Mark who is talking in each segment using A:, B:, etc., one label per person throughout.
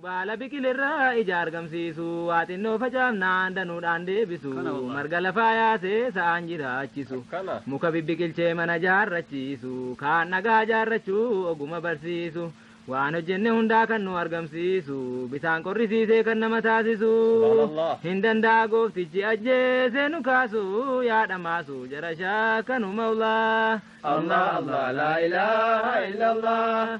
A: Baala biqilirraa ija argamsiisu, waa xinnoo facaafnaan danuudhaan deebisu, marga lafaa yaasee sa'aan jiraachisu, muka bibbiqilchee mana jaarrachiisu, kaan dhagaa jaarrachuu oguma barsiisu, waan hojjenne hundaa kan nu argamsiisu, bisaan qorrisiisee kan nama taasisu, hin danda'a gooftichi ajjeesee nu kaasu, yaa dhamaasu jara shaakanu mawlaa. Allah Allah
B: laa ilaaha illallah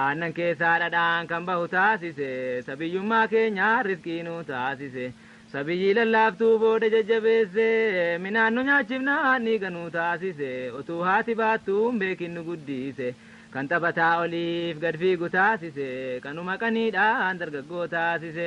A: Aannan keessaa dhadhaan kan bahu taasise Sa biyyummaa keenyaa rizqii nu taasise Sa biyyii lallaaftuu booda jajjabeesse Minaan nu nyaachifnaan dhiiga nu taasise Otuu haati baattuu hin beekin nu guddiise Kan taphataa oliif gad fiigu taasise Kanuma qaniidhaan dargaggoo taasise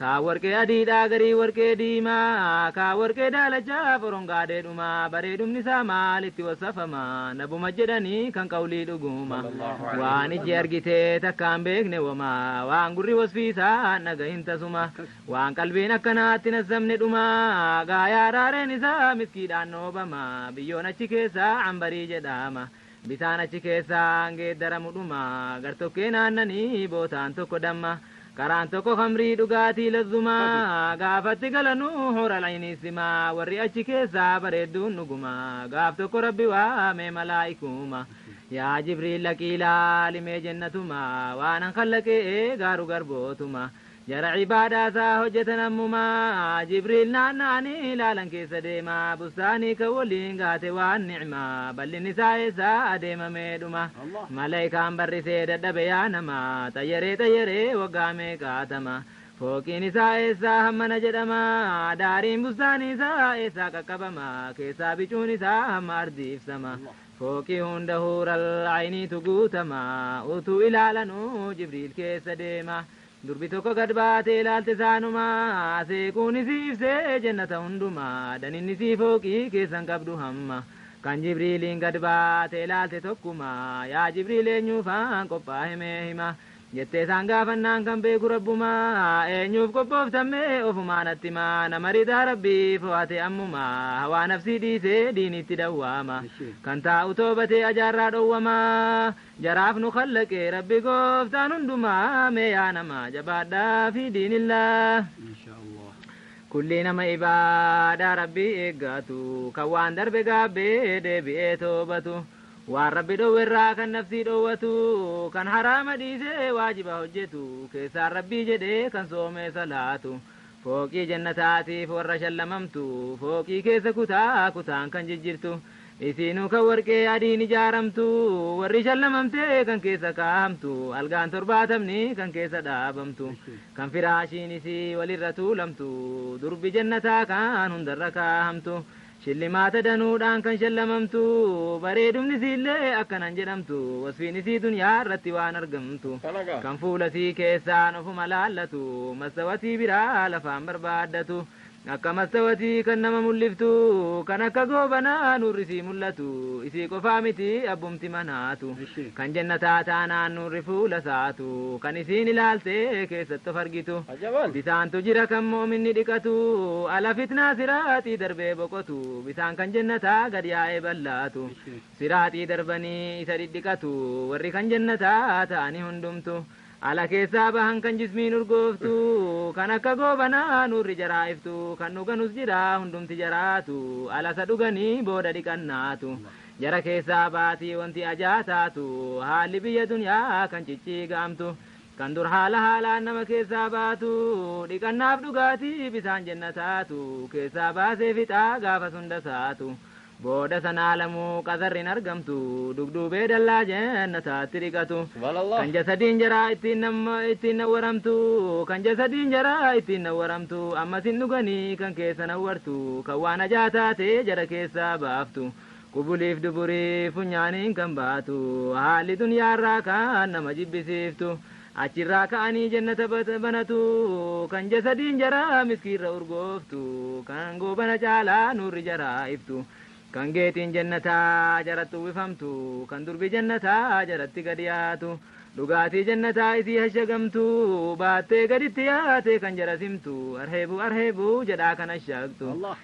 A: Kaa warqee adiidhaa garii warqee diimaa Kaa warqee daalachaa forongaa dheedhuma Bareedumni isaa maalitti wassafama Nabuma jedhanii kan qawlii dhuguma Waan ijji argite takkaa hin beekne woma Waan gurri wasfii isaa hin dhagahin tasuma Waan qalbiin akkanaatti hin hassamne dhuma Gaayaa raareen isaa miskiidhaan dhoobama Biyyoon achi keessaa Anbarii jedhama Bisaan achi keessaan geeddaramu dhuma, gartokkeen aannanii, bootaan tokko damma, karaan tokko khamrii dhugaatii lazzumaa, gaafatti galanu hural aynii sima, warri achi keessaa bareedduun dhuguma, gaaf tokko Rabbi waame malaa'ikuuma, yaa Jibriil dhaqii laalimee jennatuma, waanan khallaqee gaaru garbootuma, Jara ibaadaa isaa hojjatan ammumaa, Jibriil naanna'anii ilaalan keessa deema, bustaanii kan waliin gahate waan ni'maa, bal'inni isaa eessa adeema mee dhuma? Malaykaan barrisee dadhabe yaa nama, xayyaree xayyaree waggaa meeqa hatama? Fooqiin isaa eessaa hammana jedhama, daariin bustaanii isaa eessaa qaqqabama, keessaa bicuun isaa hamma ardii ibsama, fooqii hunda huural ayniitu guutama, utuu ilaalanuu Jibriil keessa deema. Durbi tokko gad baatee ilaalte isaanumaa seequun isii ibsee jennata hundumaa daninni sii fooqii keessan qabdu hamma kan jibriiliin gad baatee ilaalte tokkuma yaa jibriil eenyuufaan qophaahe mee hima jettee isaan gaafannaan kan beeku rabbuma eenyuuf qophooftan mee ofumaa natti hima nama ridaa rabbii fo'ate ammuma hawaa nafsii dhiisee diiniitti dawwaama kan taa'u toobatee ajaarraa dhowwama Jaraaf nu khallaqee rabbi gooftaan hundumaa mee yaa namaa jabaadhaa fii diinillaah Kullii nama ibaadaa rabbii eeggaatu kan waan darbe gaabbee deebi'ee toobatu waan rabbi dhowwerraa kan nafsii dhowwatu kan haraama dhiisee waajiba hojjetu keessaan rabbii jedhee kan soomee salaatu Fooqii jannataatiif warra shallamamtu, fooqii keessa kutaa kutaan kan jijjirtu, isiinuu kan warqee adiin ijaaramtu, warri shallamamte kan keessa kaahamtu, algaan torbaatamni kan keessa dhaabamtu, kan firaashiin isii walirra tuulamtu, durbi jannataa kan hundarra kaahamtu, Shillimaata danuudhaan kan shallamamtu, bareedumni isiillee akkanan jedhamtu, wasfiin isii dunyaa irratti waan argamtu, kan fuula isii keessaan ofuma laallatu, mastawatii biraa lafaan barbaaddatu, akka mastawatii kan nama mulliftu, kan akka goobanaa nuurri isii mullatu, isii qofaa miti abbumti manaatu, kan jannataa taanaan nuurri fuula isaatu, kan isiin ilaaltee keessatti of argitu. Bisaantu jira kan mu'minni dhiqatu, ala fitnaa siraaxii darbee boqotu, bisaan kan jennataa gad yaa'ee ballaatu, siraaxii darbanii isa dhidhiqatu, warri kan jennataa ta'ani hundumtu, ala keessaa bahan kan jismiin urgooftu, kan akka goobanaa nuurri jaraa iftu, kan dhuganus jira hundumti jaraatu, ala isa dhuganii booda dhiqannaatu, jara keessaa baati wanti ajaa taatu, haalli biyya dunyaa kan cicciiga'amtu, Kan dur haala haalaan nama keessaa baatu, dhiqannaaf dhugaatii bisaan jennataatu, keessaa baasee fixa gaafas hunda saatu. Booda san aalamuu qazarri hin argamtu, dugduubee dallaa jennataatti dhiqatu. Kan jasadiin jaraa ittiin namma ittiin nawwaramtu, kan jasadiin jaraa ittiin nawwaramtu, ammas hin dhuganii kan keessa nawwartu, kan waan hajaa taate jara keessaa baaftu. Qubuliif duburii funyaaniin kan baatu haalli dunyaarraa kan nama jibbisiiftu achirraa ka'anii jannata banatu kan jasadiin jaraa miskiirra urgooftu kan goobana caalaa nuurri jaraa iftu kan geetiin jannataa jaratti uwwifamtu kan durbi jannataa jaratti gad yaatu dhugaatii jannataa isii hashagamtu baattee gaditti yaatee kan jara simtu arheebuu arheebuu jedhaa kan hashaaqxu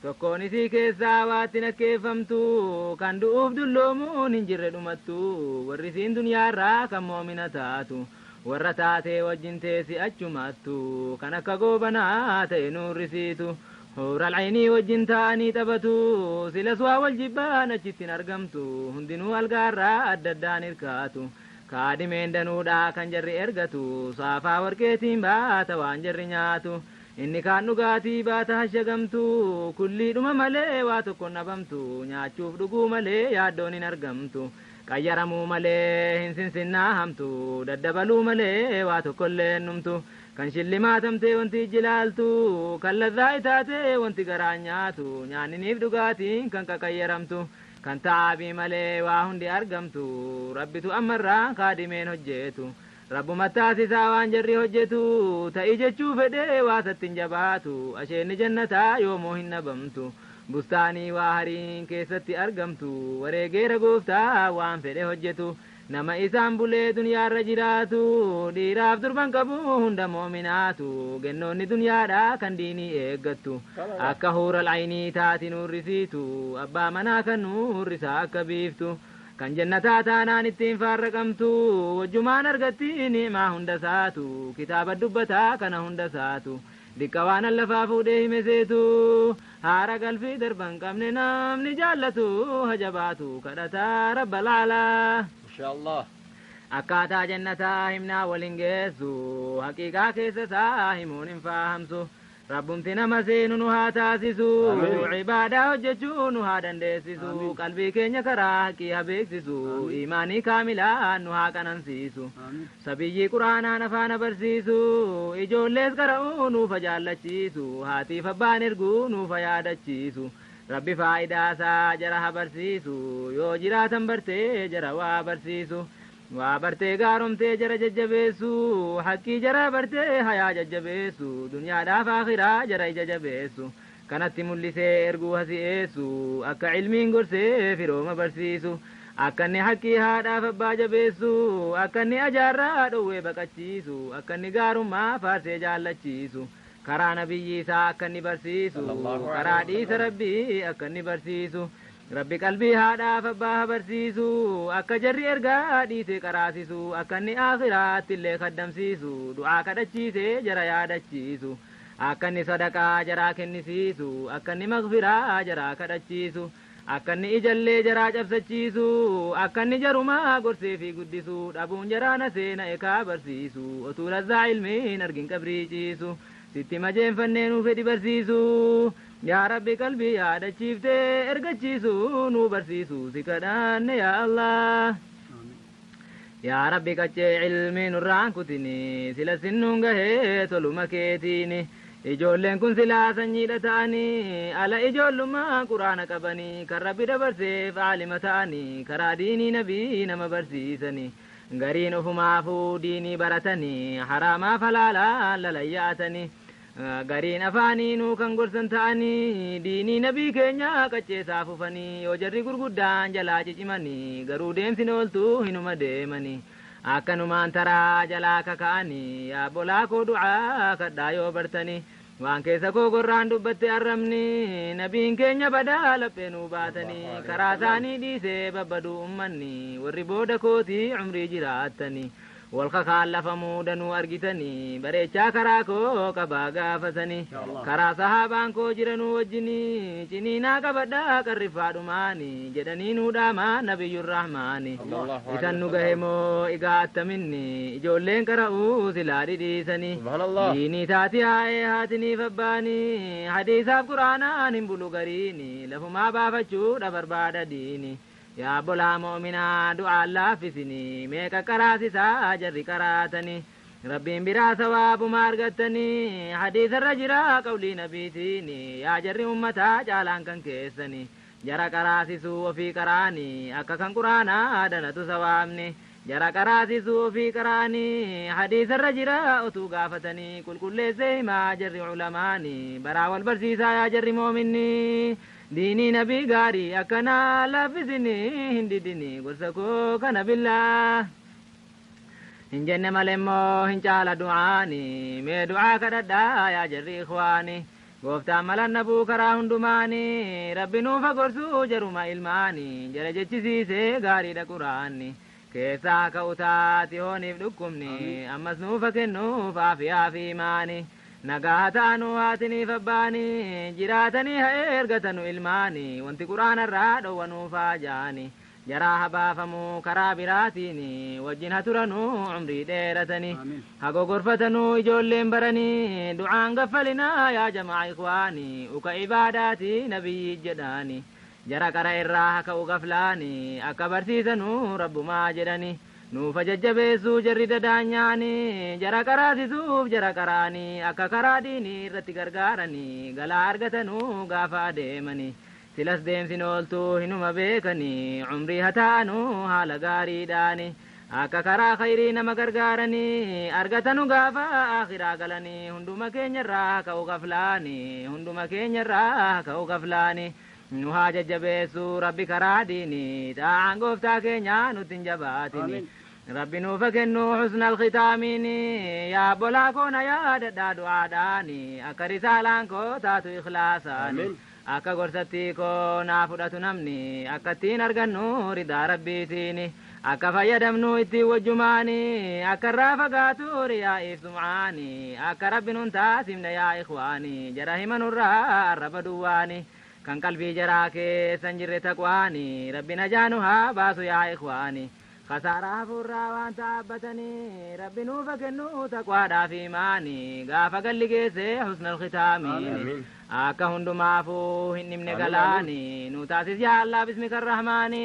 A: Tokkoon isii keessaa waatti nakkeeffamtu, kan du'uuf dulloomuun hin jirre dhumattu, warri isiin dunyaarraa kan mo'mina taatu, warra taatee wajjin teessi achumattu, kan akka goobanaa ta'e nuurrisiitu, huural aynii wajjin taa'anii taphatu, silas waan wal jibbaan achitti hin argamtu, hundinuu algaarraa adda addaan hirkaatu, kaadimeen danuudha kan jarri ergatu, saafaa warqeetiin baata waan jarri nyaatu, Inni kaan dhugaatii baata hashagamtu, kulliidhuma malee waa tokkon dhabamtu, nyaachuuf dhuguu malee yaaddoon hin argamtu, qayyaramuu malee hin sinsinnaahamtu, daddabaluu malee waa tokkollee hin dhumtu, kan shillimaatamtee wanti ijji laaltu, kan ladhaa'i taatee wanti garaan nyaatu, nyaanniniif dhugaatiin kan qaqayyaramtu, kan ta'aabii malee waa hundi argamtu, Rabbitu ammarraa kaadimeen hojjeetu, Rabbuma taasisa waan jarri hojjetu Ta'i jechuu fedhee waa isatti hin jabaatu Asheenni jannataa yoomuu hin dhabamtu Bustaanii waa hariin keessatti argamtu Wareegeera gooftaa waan fedhe hojjetu Nama isaan bulee dunyaarra jiraatu Dhiiraaf durban qabu hunda mu'minaatu Gennoonni dunyaadhaa kan diinii eeggattu Akka huural aynii taati nuurrisiitu Abbaa manaa kan nuurrisaa akka biiftu Kan Jannataa taanaan itti hin faarraqamtu, wajjumaan argatti ni'maa hundasaatu, kitaaba dubbataa kana hundasaatu, diqqa waanan lafaa fuudhee hime seetu, haara galfii darba hin qabne namni jaallatu ha jabaatu kadhataa Rabbal A'laa. Mashaa Allaah.
B: Akkaataa
A: Jannataa himnaa wal hin geessu, haqiiqaa keessa isaa himuun hin faahamsu, Rabbumti nama seenu nu haa taasisu Ibaadaa hojjechuu nu haa dandeessisu Qalbii keenya karaa haqqii ha beeksisu Iimaanii kaamilaan nu haa qanansiisu Sabiyyii qur'aanaan afaana barsiisu Ijoollees qara'uu nuuf ha jaallachiisu Haatiif abbaan erguu nuuf ha yaadachiisu Rabbi faayidaasaa jara ha barsiisu Yoo jiraatan bartee jara waa barsiisu Waa bartee gaaromtee jara jajjabeessu Haqqii jaraa bartee hayaa jajjabeessu Dunyaadhaaf aakhiraa jara ija jabeessu Kanatti mul'isee erguu ha si'eessu Akka ilmiin gorsee firooma barsiisu Akkanni haqqii haadhaaf abbaa jabeessu Akkanni ajaarraa dhowwee baqachiisu Akkanni gaarummaa faarsee jaallachiisu Karaa nabiyyii isaa akkanni barsiisu Karaa dhiisa rabbii akkanni barsiisu Rabbi qalbii haadhaaf abbaa ha barsiisu akka jarri ergaa dhiite qaraasisu akka inni aakhirattillee khaddamsiisu du'aa kadhachiise jara yaadachiisu akka inni sadaqaa jaraa kennisiisu akka inni maghfiraa jaraa kadhachiisu akka inni ijallee jaraa cabsachiisu akka inni jaruma gorsee fi guddisu dhabuun jaraa na seena ekaa barsiisu otuu lazzaa ilmii hin argin qabrii ciisu sitti majeenfannee nuu fedhi barsiisu Yaa Rabbi qalbii yaadachiifte ergachiisuu nuu barsiisuu si kadhanne yaa Allah. Yaa Rabbi qaccee ilmii nurraan kutini sila sin nuun gahee toluma keetiini. Ijoolleen kun silaa sanyiidha ta'anii ala ijoollummaan quraana qabanii kan Rabbi dabarseef aalima ta'anii karaa diinii nabii nama barsiisanii. Gariin ofumaafuu diinii baratanii haraamaaf halaalaan lalayyaa'atanii. Gariin afaaniinuu kan gorsan ta'anii diinii nabii keenyaa qacceesaa fufanii yoo jarri gurguddaan jalaa cicimanii garuu deemsin ooltuu hinuma deemanii akkanumaan taraa jalaa kaka'anii yaa obbolaa koo du'aa kadhaa yoo bartanii waan keessa koo gorraan dubbatte arrabni nabiin keenya badaa laphee nuu baatanii karaa isaanii dhiisee babbaduu ummanni warri booda kootii umrii jiraattanii Wal kakaan lafa muuda nuu argitani bareechaa karaa koo qabaa gaafa sani karaa sahaabaan koo jiranuu wajjini ciniinaa qabadhaa qarriffaa dhumaani jedhanii nuu dhaamaa nabiyyun rahmaani isan nu gahe moo igaa attaminni ijoolleen qara'uu silaa dhidhiisani diinii taati haa'ee haatiniif abbaani hadiisaaf quraanaan hin bulu gariini lafumaa baafachuudha barbaada diini Yaa obbolaa mu'uminaa du'aan laaffisini mee qaqqaraasisaa jarri qaraatani Rabbiin biraa sawaabuma argattani hadiisarra jira qawlii nabiitiini yaa jarri ummataa caalaan kan keessani jara qaraasisuu ofii qara'ani akka kan qur'aanaa danatu sawaabni jara qaraasisuu ofii qara'ani hadiisarra jira otuu gaafatani qulqulleessee himaa jarri ulamaani baraa wal barsiisaa yaa jarri mu'uminni Diinii nabii gaarii akkanaa laaffisinii hin didinii gorsa koo kana billaah Hin jenne malemmoo hin caala du'aani mee du'aa kadhadhaa yaa jarri ikhwaani Gooftaan malan dhabuu karaa hundumaani Rabbi nuuf ha gorsu jaruma ilmaani jara jechisiisee gaariidha quraanni keessaa haa ka'u taati hooniif dhukkubni ammas nuuf haa kennuuf aafiyaa fi imaani nagaa haa ta'anu haatiniif abbaani jiraatanii haa eergatanu ilmaani wanti quraanarraa dhowwa nuuf haa jaani jaraa haa baafamu karaa biraatiin wajjin haa turanu umrii dheeratani haa gogorfatanu ijoolleen barani du'aan gaffalinaa yaa jamaa ikwaani uka ibaadaati nabiyyii jedhaani Jara qara irraa haka'u gaflaani akka barsiisanu Rabbumaa jedhani nuuf hajajjabeessu jarri dadaanyaani jara qaraasisuuf jara qaraani akka karaa diini irratti gargaarani galaa argatanu gaafa adeemani silas deemsin ooltu hinuma beekani umrii hataa'anu haala gaariidhaani akka karaa khayrii nama gargaarani argatanu gaafa aakhiraa galani hunduma keenyarraa haka'u gaflaani hunduma keenyarraa haka'u gaflaani Nu haa jajjabeessu Rabbi karaa diini, xaa'aan gooftaa keenyaa nutti hin jabaatini. Rabbi nuuf haa kennu husnal khitaamiini, yaa obbolaa koo na yaadadhaa du'aadhaani, akka risaalaan koo taatu ikhlaasaani. Akka gorsattii koo naa fudhatu namni, akka ittiin argannu ridaa Rabbiitiini. Akka fayyadamnu ittiin wajjumaani Akka irraa fagaatu riyaa'iif sum'aani Akka Rabbi nun taasifne yaa ikhwaani Jara hima nurraa arraba duwwaani Kan qalbii jaraa keessa hin jirre taqwaani Rabbi najaa nu haa baasu yaa ikhwaani Khasaaraa hafuurraa waan taabbatani Rabbi nuuf haa kennu taqwaadhaaf iimaani Gaafa galli geesse husnal khitaamiini Akka hundumaafuu hin dhimne galaani Nu taasis yaa Allaah bismika Rahmaani